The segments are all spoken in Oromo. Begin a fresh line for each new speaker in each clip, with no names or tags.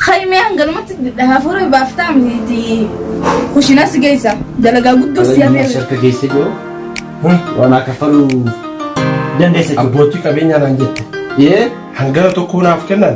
Haymee hanganumatti hafuura baaftaa miti kushinas geessa dalagaa guddoo si Qabeenyi hafeera. harka geessee
jiru waan akka faluu dandeessa jiru. Abbootii qabeenyaa
naan jette. Ee hangana
tokko naaf
kennan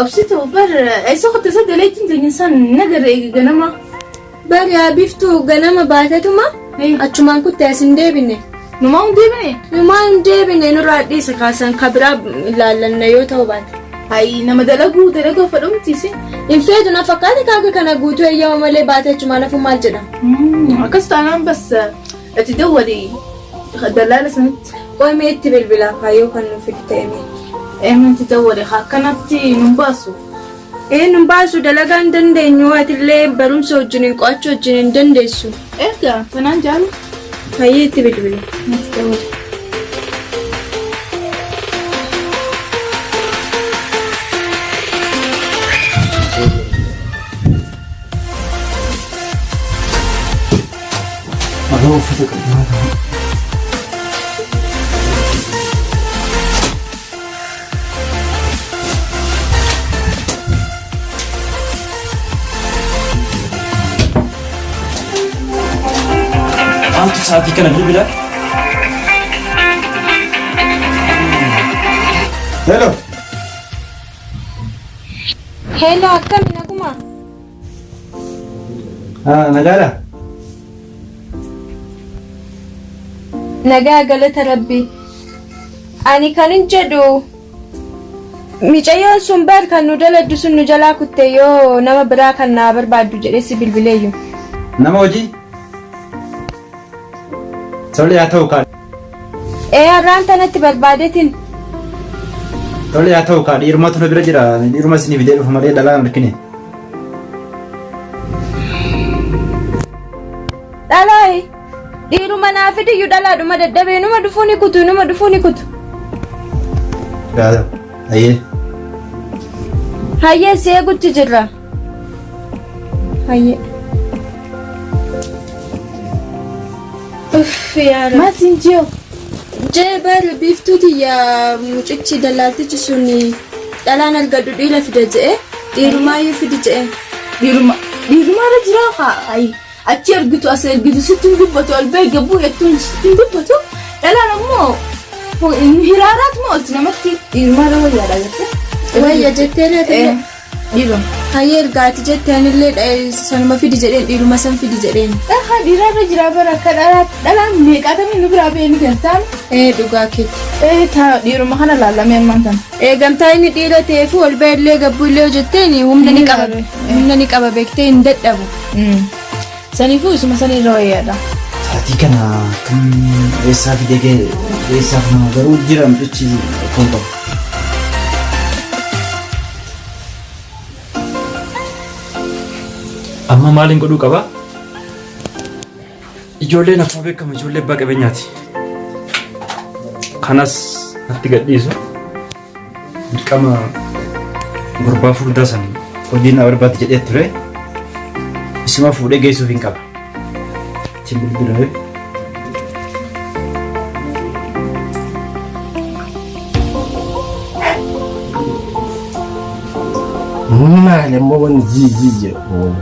Obsitu bar eessa kutte sadda leettiin teenya san nagarra eegi ganama. Bari haa
biftuu ganama baatetuma achumaan kutte as hin deebine. Numaa hin deebine.
Numaa hin deebine
nurraa dhiisa kaasan ka biraa ilaallanna yoo ta'u baate. Hayi nama
dalaguu dalaguu fa dhumtiisi. Hin feetu na
fakkaate kaaga kana guutuu eeyyama malee baate achumaan hafu maal jedhama. Akkas
taanaan bas Itti dawwali dallaala sanitti. Qoy mee itti
bilbilaa kaa yoo kan nu fidu ta'e mee. Eenyu itti
dawwale kaa akkanatti nun baasu. Ee nun
baasu dalagaa hin dandeenyu atillee barumsa wajjiniin qo'achuu wajjin hin dandeessu. Erga kanaan
jaalu. Hayyee itti
bilbili. Itti dawwali.
Aboo uffata qabdaa ta'a.
Maaltu sa'aatii kana bilbila?
Hello.
Hello, akkami naguma?
Ah, nagaadha?
Nagaa galata rabbi. Ani kanin jedhu micayyoon sun bar kan nu daladdu sun nu jalaa kutte yoo nama biraa kan naa barbaaddu jedhee si bilbileeyyu. Nama hojii?
Tole haa ta'u kaa. Ee
arraan tanatti barbaadetin.
Tole haa ta'u kaa dhiirumatu na bira jira dhiiruma isinii fidee dhufu malee dhalaa hin argine.
Dhalaayi. Dhiiruma naa fidiyyu dhalaadhuma dadhabee numa dhufuu ni kutu numa dhufuu ni kutu.
Yaa ta'u. Ayyee.
Hayyee si eegutti jirra. Hayyee. Uff yaa rabbi. Maal siin jiyoo?
Jee
bar biiftuu tiyya mucichi dallaaltichi sun dhalaan argadhu dhiira fida je'e dhiirumaayyuu fidi je'e. Dhiiruma
dhiirumaarra jiraa haa ayi. Achi ergitu as ergitu sitti hin dubbatu ol bahi gabbuu jettuun sitti hin dubbatu. Dhalaan ammoo hin hiraaraat moo olti namatti dhiirumaarra wayyaadha jettee. Wayya jettee laata.
Eh. Dhiro.
Hayyee erga ati
jette anillee dha- eh, sanuma fidi jedheen dhiiruma san fidi jedheen. Dhahaa dhiiraa irra jiraa
bara akka dhalaa dhalaan meeqaatamii nu biraa ba'ee ni galtaan. Ee dhugaa keeti.
Ee taa dhiiruma
kana laallamee ammaan tana. Eegamtaa inni dhiira
ta'ee fi ol ba'e illee gabbuu illee hojjetteen humna ni Ni qaba. laabe. Humna ni qaba beektee hin dadhabu. Mm.
Saniifuu isuma sanii irra wayyaadha. Saatii kana
kan eessaa fidee ga'e eessaaf nama garuu jira mucichi kun qabu. Amma maaliin godhuu qaba? Ijoolleen akkuma beekamu ijoollee abbaa qabeenyaati. Kanas natti gadhiisu. Dirqama gurbaa furdaa san hojiin na barbaaddi jedhee ture. Isuma fuudhee geessuuf hin qaba. Ittiin bilbilee.
Maal immoo wanni jii jii jedhu.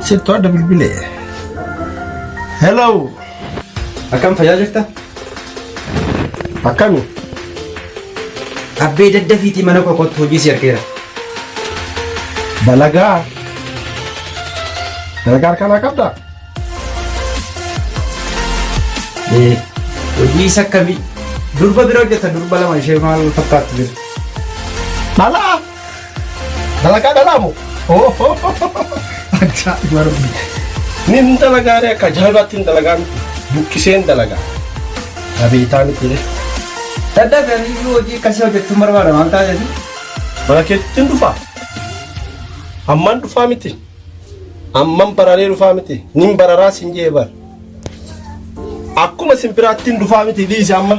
Sittu adda bilbilee. Hello.
Akkam fayyaa jirta? Akkami?
Abbee
daddafiitii mana koo kottu hojii si argeera. Dalagaa?
Dalagaa harkaa qabda?
Ee, hojii isa akkamii? Durba bira hojjeta durba lama ishee maal fakkaattu jira? Dhalaa?
Dalagaa dhalaa moo? Ajaa'iba rabbi. Nin dalagaa ree akka ajaa'ibaatti hin dalagaa miti. Buqqisee hin dalagaa. Abeetaa miti ree. Dadda
garii hojii akkasii hojjechuun barbaada waan ta'eef. Mana
keetti hin dhufaa. Amman dhufaa miti. Amman bararee dhufaa miti. Nin bararaa sin jee bar. Akkuma sin biraatti hin dhufaa miti dhiisi amma.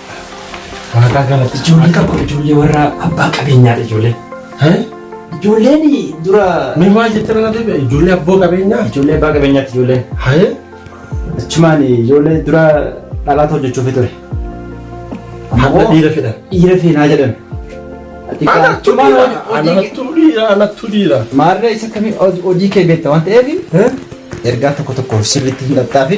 Waaqaa
galata ijoollee qabu ijoollee
warra abbaa qabeenyaadha ijoollee. Ijoolleen dura. Mee maal jettee mana
deebi'a ijoollee abboo qabeenyaa. Ijoollee abbaa qabeenyaatti
ijoolleen. Hayee.
Achumaan
ijoollee dura dhalaata hojjechuuf ture.
Amma dhiira fedha. Dhiira feenaa jedhan. Anattu dhiira anattu dhiira anattu dhiira. Maarree isa kamiin
hojii kee beekta waan ta'eef ergaa tokko tokko sirriitti hin dhaxxaafi.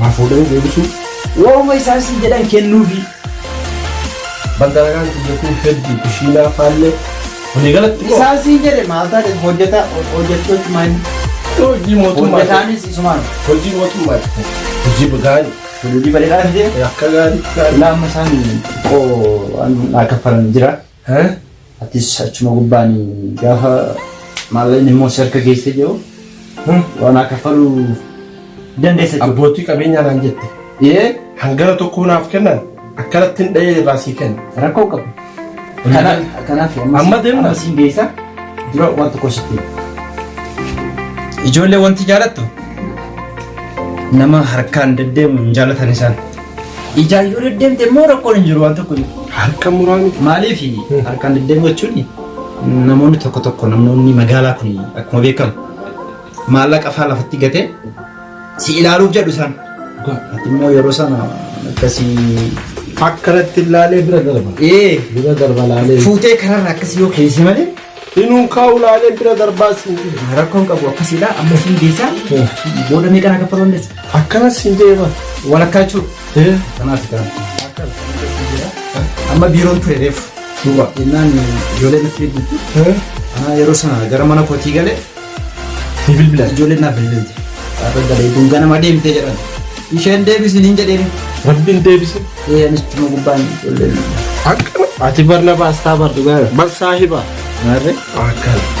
Waa fuudhanii deebisuu. Waa'uma isaan
siin jedhan kennuufi. Badaagaan
biyya kun hedduu kushiinaa faallee walii galatti moo Isaan siin jedhe maal taate
hojjeta hojjechuu cimaa inni. hojii
mootummaa Hojjetaanis isumaan.
hojii mootummaa
hojii gaarii Hojii bareedaa fidee.
akka gaarii gaarii.
Laamma isaan
xiqqoo waan naa kaffalan jira. Hee atis achuma gubbaan gaafa maallaqni immoo si harka geessee jiru waan akka faluu dandeessa jechuudha. Abbootii qabeenyaa naan jette.
Ee Hangana
tokko
naaf kennan akkanatti hin dha'ee irraa sii kenna. rakkoo hin qabu.
Kanaaf kanaaf Amma deemna.
amma siin geessa
dura waan tokko sitti. hima. Ijoollee wanti jaalattu nama harkaan deddeemu hin jaalatan isaan. Ijaan yoo deddeemte immoo rakkoon hin jiru waan tokko hin jiru. Harka muraa miti.
Maaliif
harkaan deddeemuu jechuun namoonni tokko tokko namoonni magaalaa kun akkuma beekamu maallaqa faa lafatti gatee si ilaaluuf jedhu isaan. Ati immoo yeroo sana akkasii
Akkanatti ilaalee bira darba. ee Bira darba ilaalee. fuutee kanarra akkasii
yoo keessi malee Hinuun kaa
ulaalee bira darbaa siin jedhe. Rakkoon qabu akkasiidha.
Amma isin geessaa booda meeqa na kaffaluu dandeessu? Akkana siin jedhe
bara. Walakkaa jechuudha.
Ee. Kanaaf gaa. Amma biiroon ture reefu. Duuba jennaan
ijoollee
natti eegdutti. Anaa yeroo sana gara mana kootii galee Ni
bilbilan ijoolleen naaf bilbilti.
Har'a galee kun ganama deemtee jedhan. Isheen deebisin hin jedheen. Rabbiin deebise.
Ee anis tuma gubbaan
ijoolleen. Akkana.
Ati barna baastaa bar dhugaa. Bar saahiba. Maarree?
Akkana.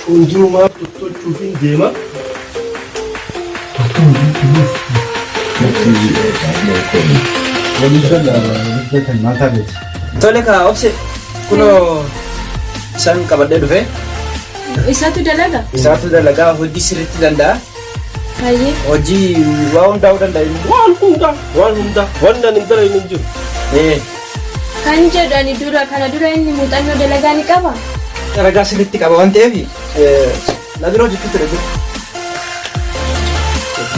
Fuuldurumaaf tottochuufiin deema. Tole kaa obse kunoo isaan qabadhee dhufee Isatu
dalaga? isaatu dalagaa
hojii sirriitti danda'a. Hayyee.
Hojii
waa hundaa'uu danda'a. Waan hundaa
waan hundaa waan nan hin dalagne hin jiru. Ee.
Kan jedhu ani dura kana dura inni muuxannoo dalagaa ni qaba? Ragaa sirriitti
qaba waan ta'eef na bira hojjechuu ture dura.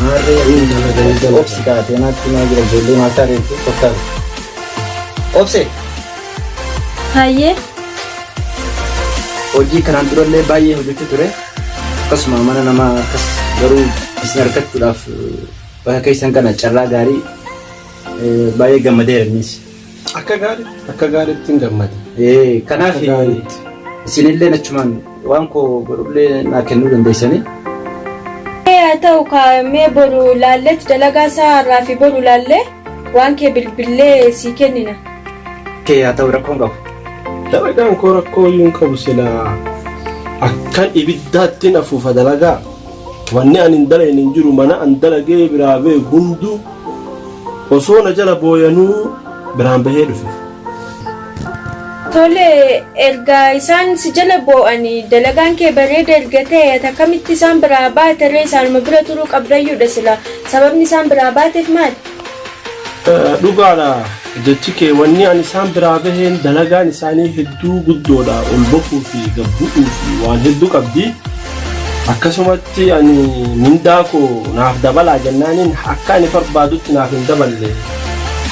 Maarree inni nama dalagaa. Obsi kaatee naatti naa jira ijoollee maataa reefu kottaa. Obse Hayyee. hojii kanaan durallee baay'ee hojjechuu ture. Akkasuma mana namaa akkas garuu isin argachuudhaaf bakka keessan kana carraa gaarii Baay'ee gammadeera innis. Akka gaariitti
akka gaariitti hin gammade. Kanaaf
isinillee achumaan waan koo godhullee naa kennuu dandeessanii.
Haa ta'u kaa'amee boru laalletti dalagaa isaa har'aa fi boru laallee waan kee bilbillee sii kennina. Kee haa
ta'u rakkoon qabu. Dalagaan
koo rakkoo hin qabu silaa akkan ibiddaatti hin afuufa dalagaa. Wanni ani hin dalagne hin jiru mana an dalagee biraa bee hunduu Osoo na jala booyanuu biraan bahee dhufe. Tole,
erga isaan si jala boo'anii, dalagaan kee bareeda erga ta'ee, ati akkamitti isaan biraa baate ree? Isaanuma bira turuu qabdayyuu dha silaa. Sababni isaan biraa baateef maali?
Dhugaa dha. Jechi kee wanni an isaan biraa baheen dalagaan isaanii hedduu guddoodha ol bahuu fi gad bu'uu fi waan hedduu qabdi. Akkasumatti ani mindaa koo naaf dabalaa jennaaniin akka ani barbaadutti naaf hin daballe.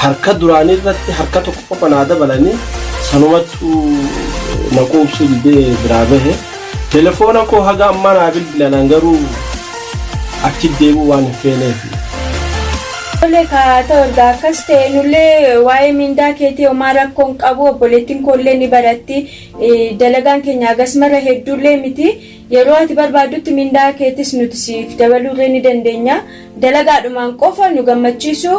Harka duraanii irratti harka tokko qofa naa dabalanii sanumattu na quubsuu didee biraa bahe. Telefoona koo haga ammaa naa bilbilan an garuu achi deemuu waan hin feeneefi.
Tole kaa ta'u erga akkas ta'e nullee waa'ee mindaa keetii homaa rakkoo hin qabu obboleettiin koollee ni baratti dalagaan keenya hagas mara hedduullee miti yeroo ati barbaaddutti mindaa keetis nuti siif dabaluullee ni dandeenya dalagaadhumaan qofa nu gammachiisuu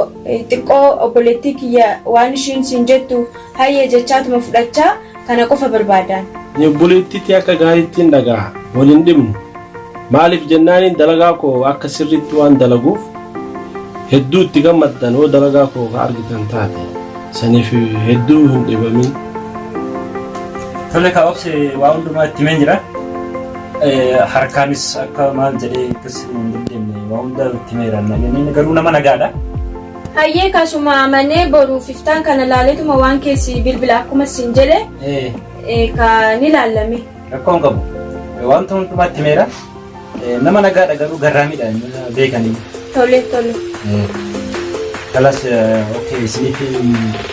xiqqoo obboleettii kiyya waan ishiin siin jettu hayyee jechaatuma fudhachaa Kana qofa barbaadaan. Ani obboleettii tee
akka gaariittiin dhagaha. Wal hin dhibnu. Maaliif jennaaniin dalagaa koo akka sirriitti waan dalaguuf hedduu itti gammaddan hoo dalagaa koo ka argitan taate. Saniif hedduu hin dhibamin.
Tole kaa obse waa hundumaa itti himeen jira. Harkaanis akka maal jedhee akkas hin dandeenye waa hundaa itti himeera. Garuu nama nagaadha. Hayyee
kaa suma amanee boruuf iftaan kana laaletuma waan keessi bilbila akkuma siin jedhe Ee, eh, ka ni laallame. rakkoon qabu.
Ee, Wanta hundumatti meera. Ee, Nama nagaadha garuu garraamidha inni beekanii. Tole tole.
Ee,
Kalas okkee isiniif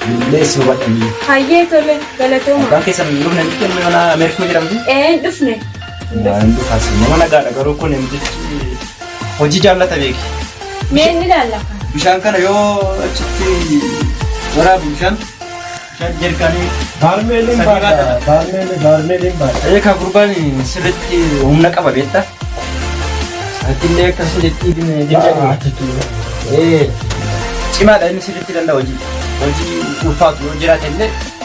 bilbilee isin hubadhanii. Hayyee tole
galatooma. Abbaan keessan hin dhufne
jechuun mana Ameerikaa jedhamti. Ee hin dhufne.
Maaltu
kaasee nama nagaadha garuu kun himtichi hojii jaallata beeki. Mee inni
laallaka. Bishaan kana yoo
achitti waraabu bishaan bishaan jerkaanii Baarmeeliin Sadii
baadha. baadha. Baarmeeliin baarmeeliin baadha. eekaa gurbaan
sirriitti humna qaba beekta. Atillee akkasuma jettii Baadha jirti. jechuudha. Ee cimaadha inni sirriitti danda'a hojii. Hojii ulfaatu yoo jiraate illee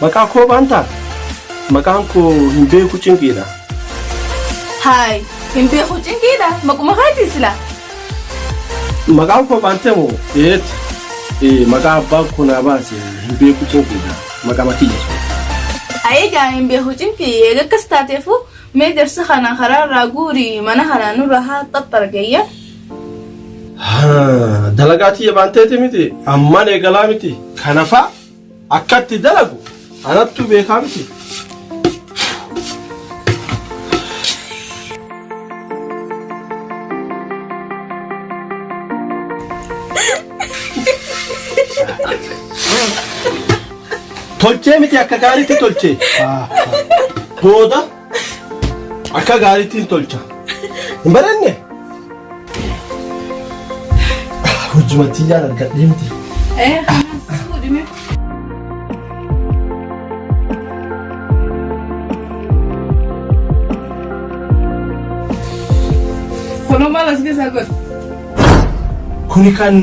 Maqaa koo baantaa?
Maqaan koo hin beeku cinqiidha.
Haay, hin beeku cinqiidha. Maquma keetii silaa.
Maqaan koo baantee moo? Eeti. Ee, maqaa abbaan koo naa baase hin beeku cinqiidha. Maqama kiyya. Ayii gaa
hin beeku cinqii eega akkas taateefu mee jarsa kana karaa irraa guuri mana kana nurra haa xaxxargayya. Haa,
Dalagaa tiyya baanteeti miti. Ammaan eegalaa miti. Kanafaa Akkatti dalagu anattuu beekaa miti. Tolchee miti akka gaariitti tolchee. Booda Akka gaariitti hin tolcha. Hin baranne? Hojjumatti yaan argadhee miti. Eh, kanas
fuudhime. Kuno malas keessa godhu.
Kuni kan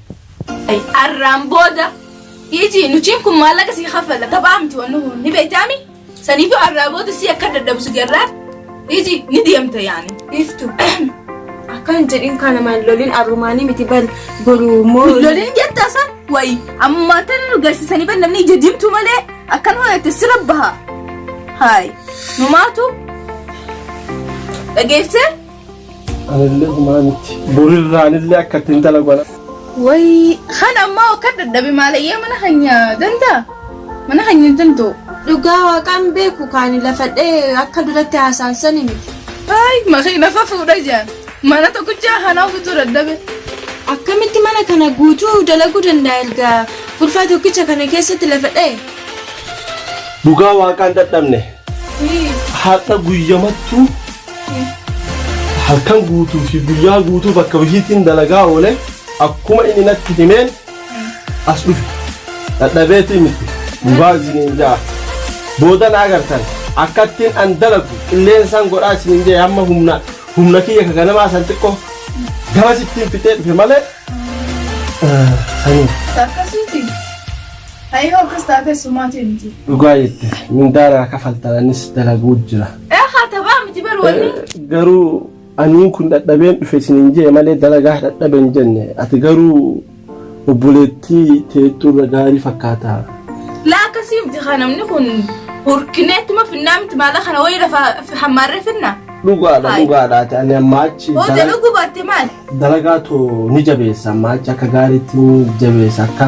Ay, arraan booda dhiisii nutiin kun maallaqa sii kaffalla taphaa miti wanni kun ni beektaami saniifu arraa booda sii akka dadhabu si garraa dhiisii ni deemta yaani. Biiftu.
Akkan jedhin kana maal lolin arrumaanii miti bal boru immoo. Lolin jettaa san
wayi amma tan nu garsiisanii ban namni ija diimtu malee akkan hojjette sira baha. Haay numaatu dhageessee Anillee
humaa miti. Burirraa anillee akka itti intala godha. Wayii
kan ammaa akka dadhabe maalayyee mana keenya danda'a mana keenya hin danda'u. Dhugaa waaqaan
beeku kaani lafadhee akka duratti haasaan sani miti. Haay makiina
fa fuudha jaan mana tokkichaa kanaa guutuu dadhabe. Akkamitti
mana kana guutuu dalaguu danda'a erga gurfaa tokkicha kana keessatti lafa dha'e?
Dhugaa waaqaan dadhabne. Har'a guyyamattuu halkan guutuu fi guyyaa guutuu bakka hojiitiin dalagaa oole akkuma inni natti himeen as dhufe dadhabeetii miti dhugaa isiniin ja'a booda na agartan akkattiin an dalagu qilleensaan godhaa isiniin jee amma humna humna kiyya ka ganamaa san xiqqoo gamas ittiin fixee dhufe malee eh, sanii Akkasiiti.
Ayyoo akkas taatee sumaatii miti. dhugaa jette
mindaanaa kafaltan anis dalaguu jira Eekaa tabaa miti
bar wanni. Garuu
aniin kun dhadhabeen dhufe isiniin jee malee dalagaa dhadhaben jenne ati garuu obboleettii teettuurra gaarii fakkaata. Laa akkasii
miti kaa namni kun hurkinee ittuma finnaa miti maala kana wayii lafa hammaarree finna. Dhugaadha Hai. dhugaadha
ati ani ammaa achi Hoo dala- jaluu gubaatte
maali? dalagaa too
ni jabeessa ammaa achi akka gaariitti ni jabeessa akka.